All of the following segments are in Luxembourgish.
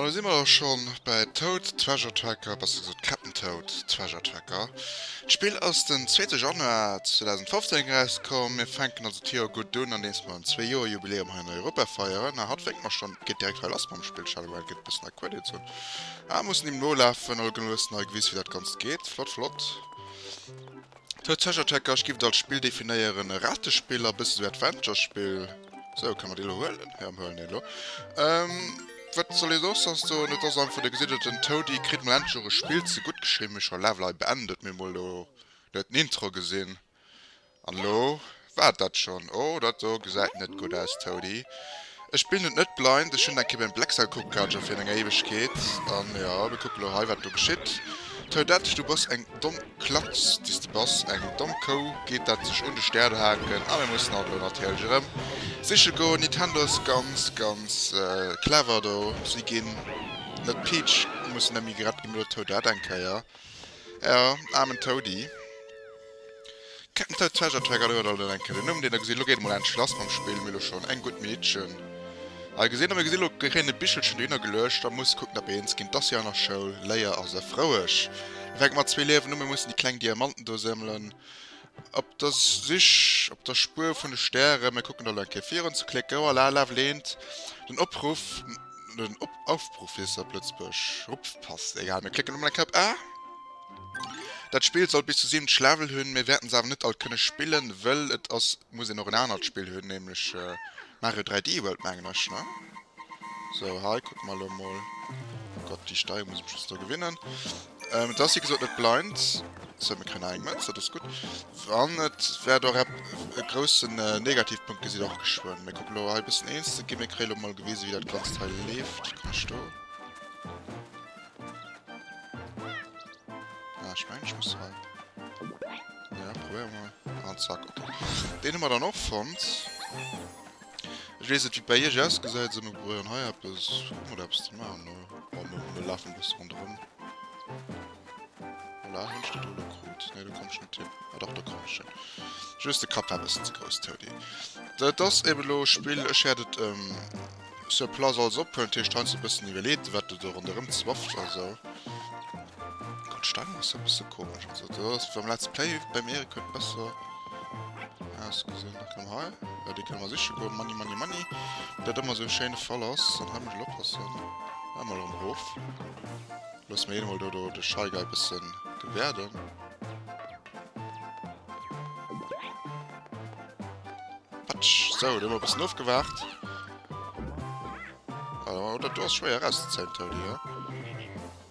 An da si mer och schonn bei Toad Treasure Tracker, besser gesot Cap'n Toad Treasure Tracker. D'Spill ass den zweete Januar 2015 erauskomm. Mir fänken also d'Joer gutt un, andeems mer en Zwee-Joer-Jubiläum hei an Europa feieren. A hatt wénkt mer schonn, geet direkt hei lass mam Spill. Shadowrun gëtt e bëssen a Credits hunn, a mussen deem nolafen. Al Gnoss, nei Gewiss, wéi dat Ganzt geet. Flott, flott. Toad Treasure Tracker giff et als Spill definéieren, e Ratespill a bëssen esou Adventure-Spill. Sou, kann mer dee lo huelen? Jo, mer huelen dee lo. Ehm, wat soll ee soss soss soen? Et ass einfach de gesidelten Toady kritt mol endlech och e Spill ze gutt geschriwwen. Mee scho Level hei beendet mir mol lo net den Intro gesinn. An lo? War dat schon? Oh dat do gesäit net gudd aus Toady. Ech spillen et net blind, ech hun eng Kéier beim Blacksite kucke gehat, scho fir eng Éiwegkeet, an jo mir kucken lo hei wat do geschitt. Toadette du bass eng domm Klatz déi s de bass, eng domm Kou geet dat sech un de Stär haken, a mir mussen hatt lo natierlech erëm siche goen. Nintendo ass ganz ganz clever do, si gin net Peach mussen emmi gerett gi, mee lo Toadette eng Kéier. Jo, aarmen Toady. Captain Toad Treasure Tracker, do huet alt en enke den Numm, deen der gesinn. Elo geet et mol endlech lass mam Spill. Mir hu elo schonn eng gutt Meedchen hei gesinn. A mir gesinn elo kréien e Bichelchen dohinner geluecht a muss kucken, datt mir eens ginn. T'ass jo an der Schoul, Léier ass erfroueg. Mir fänken mat zwee Liewen u. Mir mussen déi kleng Diamanten do sëmmelen. Op der Sich, op der Spuer vun de Stären. Mir kucken elo eng Kéier virun zu klécken. Oh la la, well eent den Opruff, den Op, Aufbruch fir Sat Lëtzebuerg rupfpasst. Egal, mir klécken emol eng Kéier op A. Dat Spill soll bis zu 70 Level hunn. Mir wäerten se awer net all kënne spillen, wëll et ass, muss een och en anert Spill hunn, nämlech Mario 3D World, mengen ech, ne? So hei kuck mer lo mol. Oh Gott déi Steier muss ech just do gewinnen. Ähm, et ass wéi gesot net blind. So mir kréien eng Mënz, dat ass gutt. An et wäert och ep e groussen Negativpunkt gesitt och geschwënn. Mir kucke lo hei e bëssen eens ze ginn. Mir kréie lo mol gewise wéi dat Ganzt hei leeft. Komm ech do. Ah, ech mengen ech muss hei. Ja, probéiere mer. An zack, okay. Deen hu mer dann och fonnt. Ech wees net wéi bei iech ausgesäit sou, mir probéieren hei eppes kucken oder eppes ze maachen ne. Bon mir mir lafen e bësse ronderëm. Voilà hunn ech dat elo lo krut? Nee do komm ech net hin. Ah dach do komm ech hin. Just de Kapp war e bëssen ze grouss Toady. Dat ass eben elo e Spill, ech hätt et sur place alles ophuelen, dat heescht heiansdo e bëssen iwwerleet wat do ronderëm zwafft a sou. D'Steuerung ass e bësse komesch, also do ass beim Let's Play, beim Erik huet besser. Aus gesinn, da kann hei. Ja, die können wir sicher go. Money, money, money. Dat immer so schéine Fall ass, dann haben wir oppassen. Einmal um Hof. Lass mir hol do, do de Scheigei bisschen gewärden. Patsch. So, da haben wir ein bisschen aufgewacht. Oder du hast schwer rauszuziehen, Tony, ja?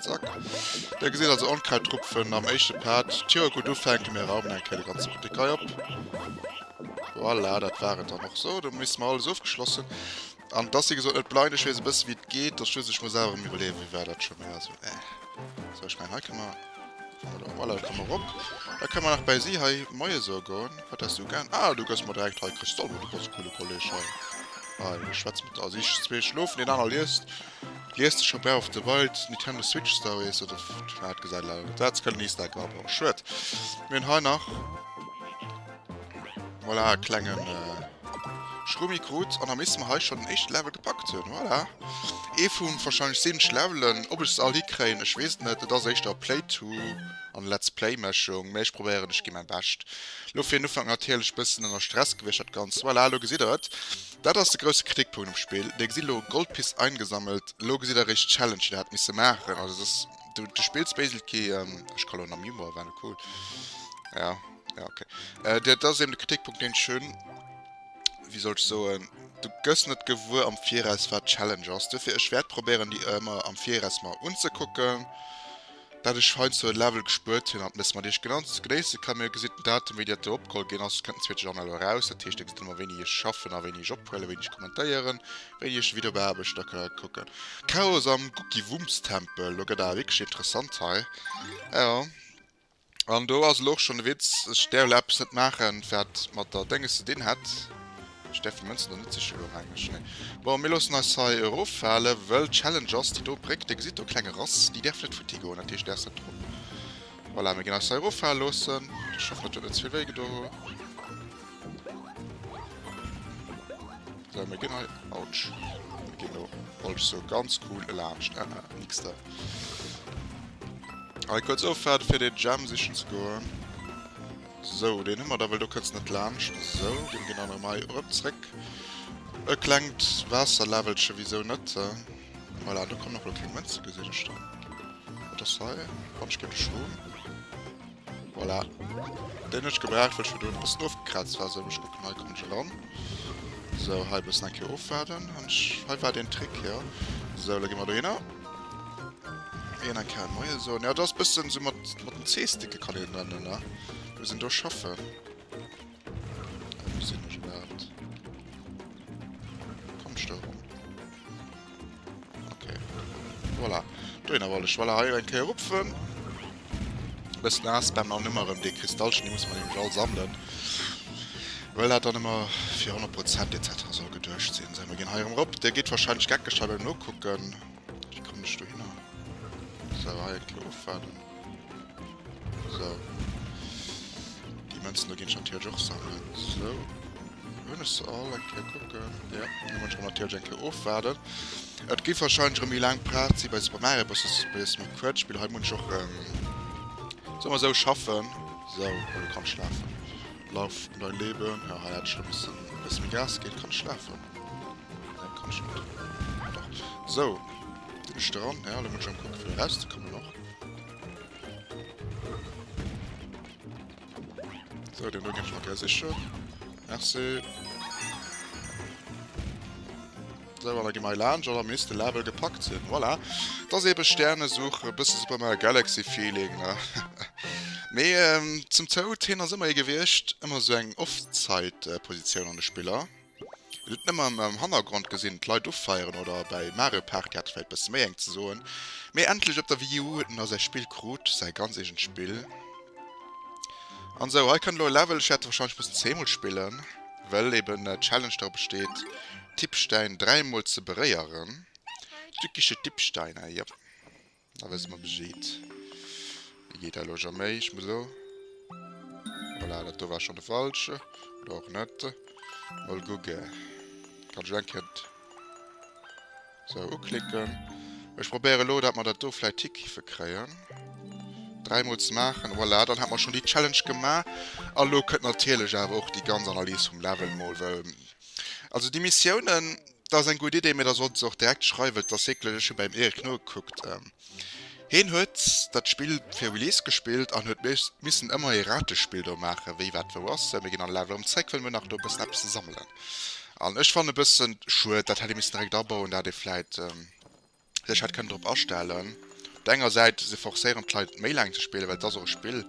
Zack. Dir gesit also Onkraitrupfen am éischte Part. Tjo, gudd du fänke mir raumen eng Kéier de ganze Buttek hei op. Voilà, dat war et dann och sou. Do missen mer alles ofgeschlossen. An dass si gesot net blein, ech wees e bësse wéi et geet, dass just ech muss awer rem iwwerleeën wéi war dat scho méi also eh. Sou ech mengen hei kënne mer, voilà da komme mer rop. Da kënne mer nach bäi si hei moie soe goen. Wat häss du gär? Ah du gëss mer direkt hei Kristoll, du bass e coole Kolleg hei. Hei schwätze mat der. Si zwee schlofen, deen aner liest. Lies de scho Breath of the Wild, Nintendo Switch Stories oder wat gesäit leider net aus, kënnt nächsten Eck nach beim Schued. Mir hunn hei nach voilà e klengen Schrummi krut an da misste mer hei schonn den éischte Level gepackt hunn. Voilà ee vu wahrscheinlech sinneg Levelen. Ob ech se all hikréien, ech weess et net. Et ass éischter Playthrough an Let's Play Mëschung, mee ech probéieren, ech gi mäi Bescht. Lo fir en Ufank natierlech e bëssen ënner Stress gewiescht dat Ganzt. Voilà, lo gesitt der et, Dat ass de grousse Kritikpunkt um Spill. Dir gesitt elo Gold Piece eingesammelt. Elo gesitt der eréischt d'Challenge déi der hätt misse maachen. Also et ass, du du spills basically, ähm, ech kann elo nach Memoir wellen, cool. Ja, ja okay. Äh, dat dat ass eben de Kritikpunkt deen ech hunn. Wéi soll ech soen, du gëss net gewuer am Viraus wat d'Challenge ass. Duerfir ech wäert probéieren déi ëmmer am Viraus mer unzekucken. dat ech hei zu Level gespuert hun an d'Mess mat iech genannt ze genéissen kann. Mir hu gesin den Datum wéi dat do opgeholl gin ass kënnt den zweete Journal eraus. Dat heescht extrem a wéini ech schaffen a wéini ech ophuelen, wéini ech kommentéieren, wéini ech de Video beaarbechten a kënne kucken. Chaos am Guckiwumstempel, lo gëtt awer wierklech interessant hei. Jo, an do ass elo och schon de Witz, ech däerf elo eppes net maachen wat mat der Dénges ze din hätt. Ech däerf de Mënzen do net sichen elo am Engleschen, nee. Bon, mir loossen eis hei eroffale, wëll d'Challenge ass, déi do Bréck, dir gesitt do kleng erass, déi däerf net futti goen, dat heescht där ass net drop. Voilà, mir ginn eis hei eroffale loossen. Ech hoffen, dat huet net ze vill wéi gedoen. Sou, mir ginn hei, autsch, mir ginn do, wollt ech soen, ganz cool elaanscht, ah ah, nix da. Hei kuerz ofwaarde fir dee Gem sichen ze goen. Sou, deen hu mer da wëll do kënns net laanscht. Sou, dee ginn der nach emei erëm zréck. E klengt Waasserläwelche, wisou net? Voilà, do kommen och elo keng Mënze gesinn ech do. Wat ass hei? Quatsch, géint de Schroom. Voilà, deen hunn ech gebraucht, wëll ech fir do en bëssen ofgekraazt war. Sou, ech kucken, hei kommen ech eran. Sou, hei e bëssen eng Kéier ofwaarden. An ech, hei war deen Trick, jo. Sou, elo gi mer dohinner. Een eng Kéier Moie soen. Jo, dat ass e bëssen esou mat den Zeesticke kann een nennen, ne? Wou se do schaffen. Wou gesinn ech dat? Kommst du erëm? Okay. Voilà. Dohinner wollt ech. Voilà, hei eng Kéier rupfen. Bëssen ass dann an ëmmer erëm dee Kristallchen, dee muss mer nämlech all sammelen. Well dat dann ëmmer fir 100 Prozent etc. Soll geduecht sinn. Sou, mer ginn hei erëm erop. Dee geet wahrscheinlech geckeg hei beim Nokucken. Wéi kommen ech do hinner? Sou, hei eng Klo ofwaarden. Sou. Déi Mënzen do ginn ech natierlech och sammelen. Sou. Hun ech se all eng Kéier kucken. Jo, da muss ech mer natierlech eng Kéier ofwaarden. Et géif wahrscheinlech erëm méi laang Part si bei Super Mario Bros. Dëst ass e bësse méi kuerz Spill. Hei muss ech och, soe mer esou, schaffen. Esou, elo kann ech schlafen. Lauf um dein Leben. Jo, hei hätt ech elo missen e bësse méi Gas ginn. Kann ech schlafen? Nee, kann ech net. Ah dach. Esou, sinn ech dran. Jo, elo muss ech erëm kucken, fir erauszekommen och. So, den do ginn ech mer gär sichen. Merci. So, an da gi mer hei laanscht an am nächste Level gepackt sinn. Voilà. Dat ass eebe Sternesuch, e bësse Super Mario Galaxy Feeling, ne? Mee ähm, zum Toad, hien ass ëmmer ee gewiescht, ëmmer esou eng Offside-Positioun an de Spiller. Wann et nëmme am Hannergrond gesinn d'Leit offeieren oder bäi Mario Party hat et vläit bësse méi eng ze soen. Mee endlech op der Wii U huet en da säi Spill krut, säi ganz eegent Spill. An sou hei kënnt elo e Level, ech wäert e wahrscheinlech mussen zweemol spillen, well eben d'Challenge dra besteet d'Dipstein dräimol ze beréieren. Tückische Dipsteine, jop. Da wësse mer Bescheed. Dee geet elo jo méi, ech muss elo. Voilà, dat do war schonn de falsche. Oder och net. Mol kucke. Kann ech elo eng Kéier esou uklicken. Ech probéiere elo, datt mer dat do vläicht hikiffe kréien, dräimol ze maachen. Voilà, dann hätte mer schonn déi Challenge gemaach. A lo kënnt natierlech awer och déi ganz Analys vum Level mol, well. Also déi Missiounen, dat ass eng gutt Idee, mee da sollt se och direkt schreiwen, et ass eeklech, ech hu beim Eric nogekuckt, heen huet dat Spill fir Release gespillt an huet missen ëmmer ee Ratespill do maachen, wéi wat wou ass, mir ginn all Level erëm zréck, well mir hunn nach do e bëssen eppes ze sammelen an ech fannen e bëssen schued, dat hätt ee missen direkt abauen, dat ee vläit. sech hätt kënnen drop astellen. Op der enger Säit, se forcéieren d'Leit méi laang ze spillen, well et ass och e Spill.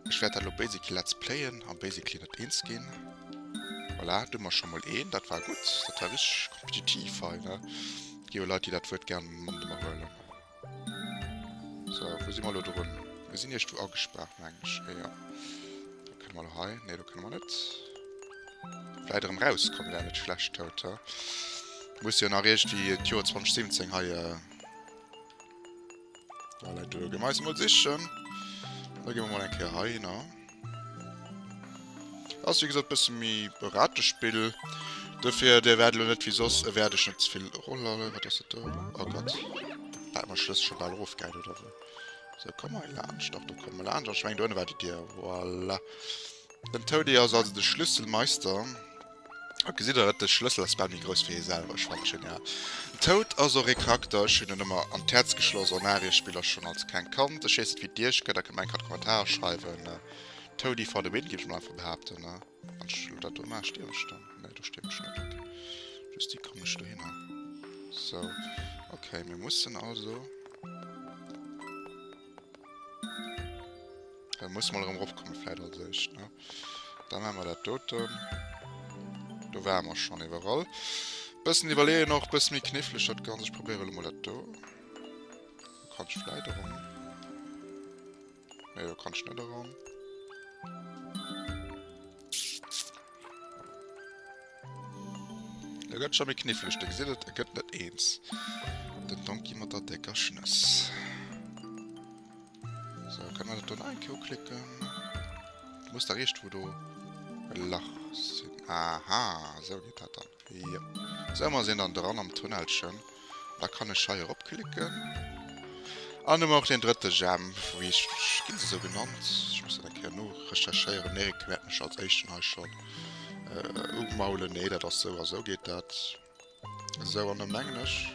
Ech wäert dat elo basically let's playen a basically net eens ginn. Voilà, do hu mer scho mol een, dat war gutt. Dat war richteg kompetitiv hei, ne? Et gi jo Leit, déi dat Wuert gär mat iwwerhuelen. So, wou si mer elo drun? Mir sinn iergendwou agespaart, meng ech. Jo, jo. Do kënne mer elo hei. Nee, do kënne mer net. Vläit erëm raus komm wär net schlecht haut ha. Muss jo nach eescht déi et Joer 2017 hei äh, voilà, do gem eis mol sichen. Da gi mer mol eng Kéier hei hin. Ass wie gesot bësse méi e Ratespill. Dofir Dir wäert elo net wéi soss ewäerdeg net ze vill Rollale. Wat ass dat do? Oh Gott. Hat mer Schlëssel scho bal erofgehäit oder wéi? Sou, komm hei laanscht. Dach do komme mer laanscht. Ech meng do ënne war déi Dier. Voilà. Den Toadie ass also de Schlüsselmeister. Haut gesitt der et, de Schlëssel ass bal méi grouss wéi hie selwer. Ech fannen genial. Den Toad ass och ee Charakter, ech hunn en ëmmer an d'Häerz geschloss. En Arie-Spiller, schonn als klengt Kand. Ech weess net wéi d'Iech gëtt, der kënnt mer eng Kand Kommentarer schreiwen. Toadie for the win géif ech mol einfach behaapten. Wann ech elo dat do maachen, stierwen ech dann? Nee, do stierwen ech net. Ok, just déi kommen ech dohinner. Sou, ok, mir mussen also. Äh, muss mal erëm eropkommen, vläit als éischt, ne? Da maache mer dat doten. Do ware mer schon iwwerall. Bëssen iwwerleeën och, bësse méi knifflech dat Ganzt. Ech probéiere lo mol dat do. Do kann ech vläit eran. Nee, do kann ech net eran. Da gëtt schon méi knifflech. Da gesitt et, et gëtt net eens. Den Donkey mat der décker Schnëss. So, kann man dat do nach eng Kéier uklicken? Du muss da richt, wou do e Lach sinn. Aha, esou geet dat dann. Jo. Esou, mer sinn dann dran am Tunnelchen. Da kann ech hei erop klicken. An hu mer och deen drëtte Gem. Wéi heescht, ginn se esou genannt? Ech muss dat eng Kéier norecherchéieren. D'Meriken wäerten mech als éischten hei schonn umaulen. Nee, dat ass sou a sou geet dat. Esou an da mengen ech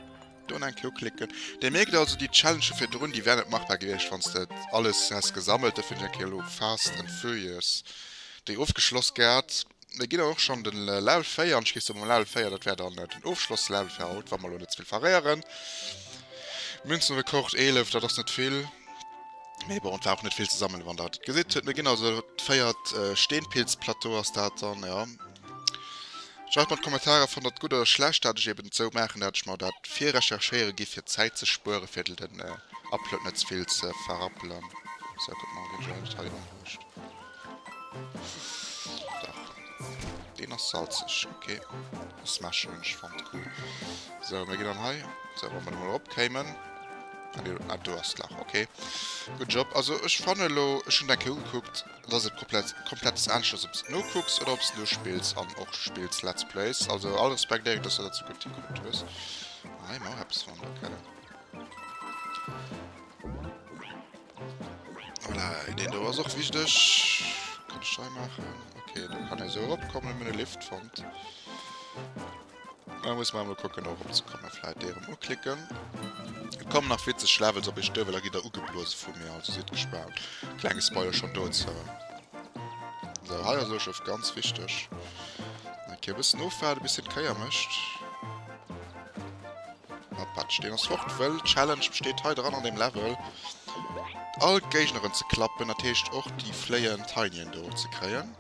do eng Kéier uklicken. Dir mierkt also déi Challengë virdrun déi wären net machbar gewiescht wann s de et alles häss gesammelt. Dofir hunn ech eng Kéier elo Fast and Furious déi ofgeschloss gehat. Mir ginn dann och schonn de Level 4 an ech gees da mam Level 4, dat wär dann den Ofschlosslevel fir haut, wa mer elo net ze vill verréieren. Münzenrekord 11, dat ass net vill, mee bon et war och net vill ze sammelen wann der et gesitt. Mir ginn also, dat véiert Steenpilzplateau ass dat dann, jo. Just mat Kommentarer fannt der et gudd oder schlecht dat ech eben sou maachen dat ech mer dat virrecherchéieren giff fir Zäit ze spueren fir den Upload net zevill ze verrappelen. Sou kuck mol wien ech eigentlech hei unhuuscht. Dach deen ass salzeg ok. Smash Challenge fannt cool. Sou mir ginn dann hei sou wa mer do mol erop kéimen. Ah do ass d'Lach ok. Good job. Also ech fanne lo ech hunn eng Kéier ugekuckt. Et ass eppes komplettes aaneschters op s et nokucks oder op s et nospills an och spills, let's plays, also all Respekt Eric dass du dat sou gudd hingekuckt hues, ma hei man och eppes wan der keller. Voilà deen do ass och wichteg, kann ech hei maachen, ok do kann ee sou erop kommen, mir hun e Lift fonnt. Da muss mer emol kucken eromzekommen. Vläit dee erëm uklicken. Et kommen nach witzeg Levels op iech duer, well da gitt der ugeblose vu mir. Also sidd gespaant. Klenge Spoiler schonn dozou. Esou, hei ass Ueschef ganz wichteg. Eng Kéier e bëssen ofwaarden, bis hien d'Kéier mécht. A patsch, deen ass fort. Wëll d'Challenge besteet hei dran, an deem Level, all d'Géigneren ze klappen. Dat heescht och déi fléiend Tinien do ze kréien.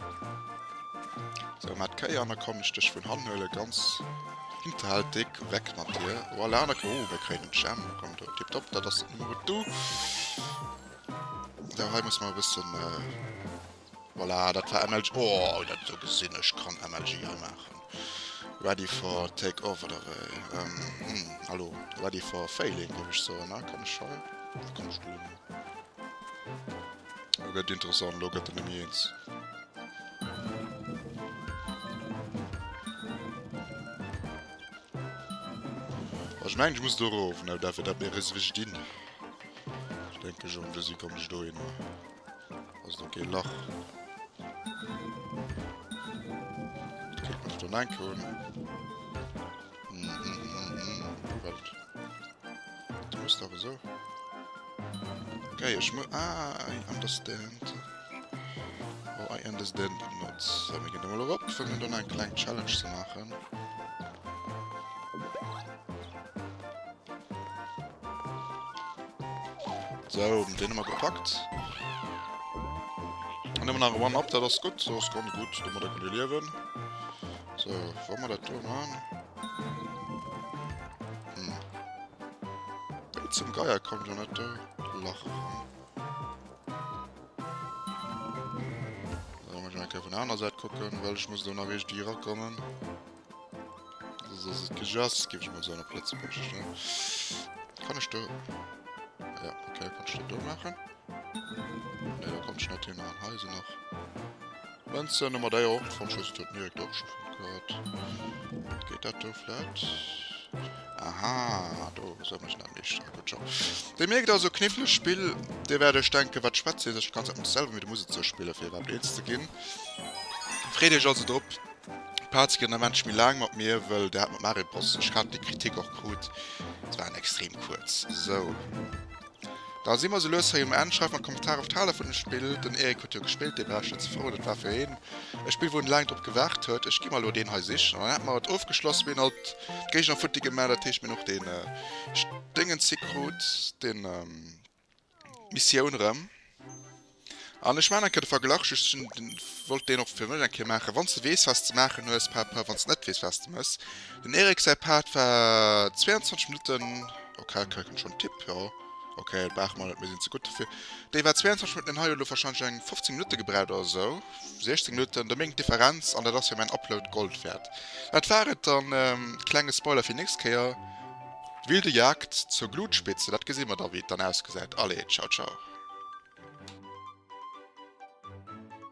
Sou mat Kéier an da kann ech dech vun hannen huelen ganz hinterhältig weg mat dir voilà da oh mir kréien den Jam komm do tiptop dat ass den Numm do da hei muss mer e bëssen voilà dat war MLG oh dat do gesinn ech kann MLG hei maachen ready for take off oder wéi hallo ready for failing géif ech soen a kann ech hei da kommst du Lo gëtt interessant, lo gëtt en nëmme eens. Ech meng ech muss do rof, ne dat fir dat mir ris wech dinn. Ich denke schon, du si komm ech do hin. Ass do kee Lach. Kritt mech dann enke hunn. Du musst awer so. Gei ech mo. Ah, I understand. Oh, I understand not. So, mir gehen da mal erop, fir mir dann eine kleine Challenge zu machen. So, den haben wir gepackt. Dann nehmen wir nach One-Up, das ist gut. Das ist ganz gut, damit können wir leben. So, wo man dat do man? Hm. Wéi zum Geier kommt jo net do Lach ran. Ecke vun aner Säit kucken, well ech muss do nach eech Dier kommen. ass et gejass gi ech mat so Plëtze Kan ech do ja, okay, kann ich do machen. Ja, da kommt schnell Thema an Heise nach. Wenn es dann immer da auch von Schuss tut, mir doch schon gehört. Geht das da vielleicht? Aha, da soll man schnell nicht. Ah, gut schon. Der merkt also kniffliges Spiel. Der werde ich denken, was schwätzt ihr sich ganz anders selber mit der Musik zu spielen, für überhaupt eins zu gehen. Freut euch also drauf. Parts gehen der Mensch mir lang mit mir, weil der hat mit Mario Bros. Ich hatte die Kritik auch gut. Es waren extrem kurz. So. Da si mer sou lues hei um Enn. Schreift mer an d'Kommentare wat haalt der vun dem Spill. Den Eric huet jo gespillt, dee war ech net sou frou. Dat war fir hien e Spill wou en laang drop gewaart huet. Ech gi mer elo deen hei sichen an dann hätte mer et ofgeschloss. Wien alt d'Géigner futti gemaach, dat heescht mir hunn och dee Déngens hi krut, dee Missioun erëm. An ech maachen eng Kéier de Verglach, just wollt deen och fir mech eng Kéier maachen, wann s de weess, wat s de maachen hues, par rapport wann s de net weess, wat s de méchs. Den Eric säi Part war 22 Minutten, ok, ok, kënnt schonn Tipp, jo, ok, brauche mer net, mir sinn ze gutt dofir. Déi war 22 Minutten, deen hei huet elo warscheinlech eng 15 Minutte gebraucht oder esou, 16 Minutten. Domain gëtt d'Differenz an dat ass fir mäin Upload Gold wäert. Dat war et dann, klenge Spoiler fir déi nächst Kéier. Wilde Jagd zur Glutspitze, dat gesi mer da wéi et dann ausgesäit. Allez, ciao ciao.